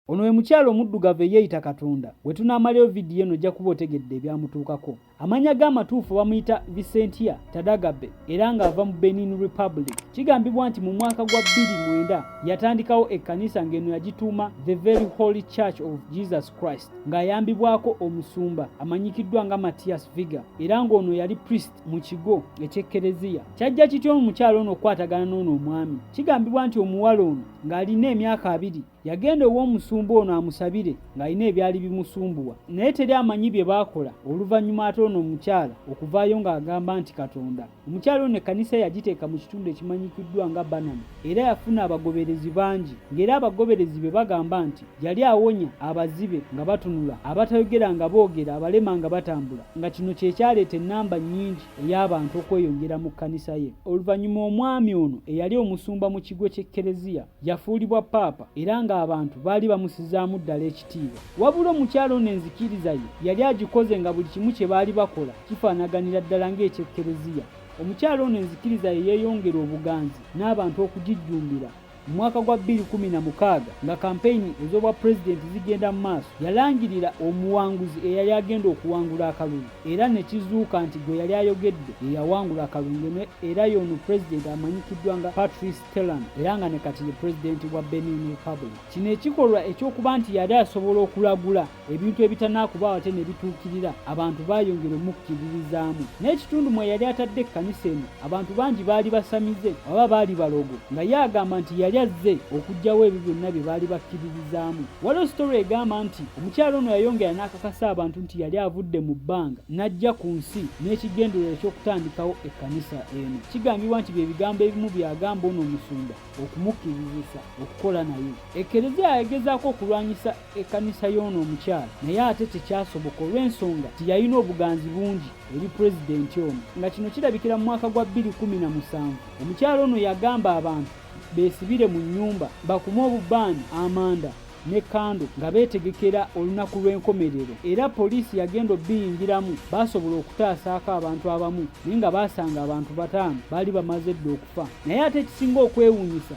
Ono we mukyala omuddugavu eyeeyita Katonda. We tunaamalayo vidiyo eno ojja kuba otegedde ebyamutuukako. Amannya ge amatuufu bamuyita Vicentia Tadagabe era ng'ava mu Benin Republic. Kigambibwa nti mu mwaka gwa bbiri mwenda yatandikawo ekkanisa ng'eno yagituuma The Very Holy Church of Jesus Christ ng'ayambibwako omusumba amanyikiddwa nga Matthias Viga era ng'ono yali priest mu kigo eky'ekkereziya. Kyajja kitya omukyala ono okukwatagana n'ono omwami? Kigambibwa nti omuwala ono ng'alina emyaka abiri Yagenda ow'omusumba ono amusabire ng'alina ebyali bimusumbuwa, naye teri amanyi bye baakola oluvannyuma ate ono omukyala okuvaayo ng'agamba nti Katonda. Omukyala ono ekkanisa yagiteeka mu kitundu ekimanyikiddwa nga Banana era yafuna abagoberezi bangi ng'era abagoberezi be bagamba nti yali awonya abazibe nga batunula, abatayogera nga boogera, abalema nga batambula nga kino kye kyaleeta ennamba nnyingi ey'abantu okweyongera mu kkanisa ye. Oluvannyuma omwami ono eyali omusumba mu kigo ky'ekkereziya yafuulibwa paapa era ng'abantu baali bamusizaamu ddala ekitiibwa. Wabula omukyala ono enzikiriza ye yali agikoze nga buli kimu kye baali bakola kifaanaganira ddala ng'eky'ekkereziya. Omukyala ono enzikiriza ye yeeyongera obuganzi n'abantu okugijjumbira. Mu mwaka gwa bbiri kkumi na mukaaga nga kampeyini ez'obwa pulezidenti zigenda mu maaso, yalangirira omuwanguzi eyali agenda okuwangula akalulu era ne kizuuka nti gwe yali ayogedde ye yawangula akalulu ng'eno era y'ono pulezidenti amanyikiddwa nga Patrice Telam era nga ne kati ye pulezidenti wa Benin Republic. Kino ekikolwa eky'okuba nti yali asobola okulagula ebintu ebitanaakubaawo ate ne bituukirira abantu baayongera omukkiririzaamu. N'ekitundu mwe yali atadde ekkanisa eno abantu bangi baali basamize oba baali balogo nga ye agamba nti yali azze okuggyawo ebyo byonna bye baali bakkiririzaamu. Waliwo sitole egamba nti omukyala ono yayongera n'akakasa abantu nti yali avudde mu bbanga n'ajja ku nsi n'ekigendererwa eky'okutandikawo e kanisa eno kigambibwa nti bye bigambo ebimu byagamba ono omusumba okumukkirizisa okukola naye ekereziya yagezaako okulwanyisa ekkanisa y'ono omukyala naye ate tekyasoboka olw'ensonga nti yalina obuganzi bungi eri pulezidenti ono nga kino kirabikira mu mwaka gwa 217 omukyala ono yagamba abantu beesibire mu nnyumba bakume obubaani amanda ne kando nga beetegekera olunaku lw'enkomerero era poliisi yagenda obbiyingiramu baasobola okutaasaako abantu abamu naye nga baasanga abantu bataano baali bamaze dda okufa naye ate ekisinga okwewuunyisa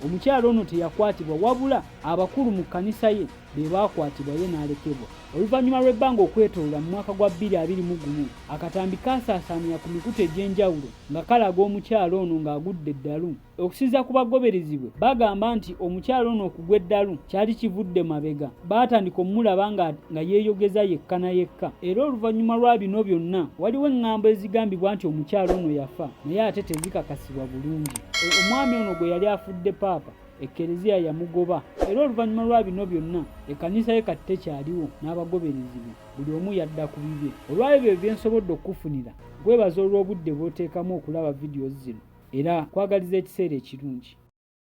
omukyala ono teyakwatibwa wabula abakulu mu kkanisa ye be baakwatibwa ye n'alekebwa oluvannyuma lw'ebbanga okwetolola mu mwaka gwa 221 akatambi kaasaasaanira ku mikutu egy'enjawulo nga kalaga omukyala ono ng'agudde eddalu Okusinzira ku bagoberezi bwe bagamba nti omukyala ono okugwa eddalu kyali kivudde mabega baatandika omulaba nga, nga yeeyogeza yekka na yekka era oluvannyuma lwa bino byonna waliwo eŋŋambo ezigambibwa nti omukyala ono yafa naye ate tezikakasibwa bulungi. Omwami ono gwe yali afudde paapa ekkereziya yamugoba era oluvannyuma lwa bino byonna ekkanisa ye kati tekyaliwo n'abagoberezi be buli omu yadda ku bibye. Olw'ebyo bye nsobodde okukufunira. Nkwebaza olw'obudde bw'oteekamu okulaba videos zino era nkwagaliza ekiseera ekirungi.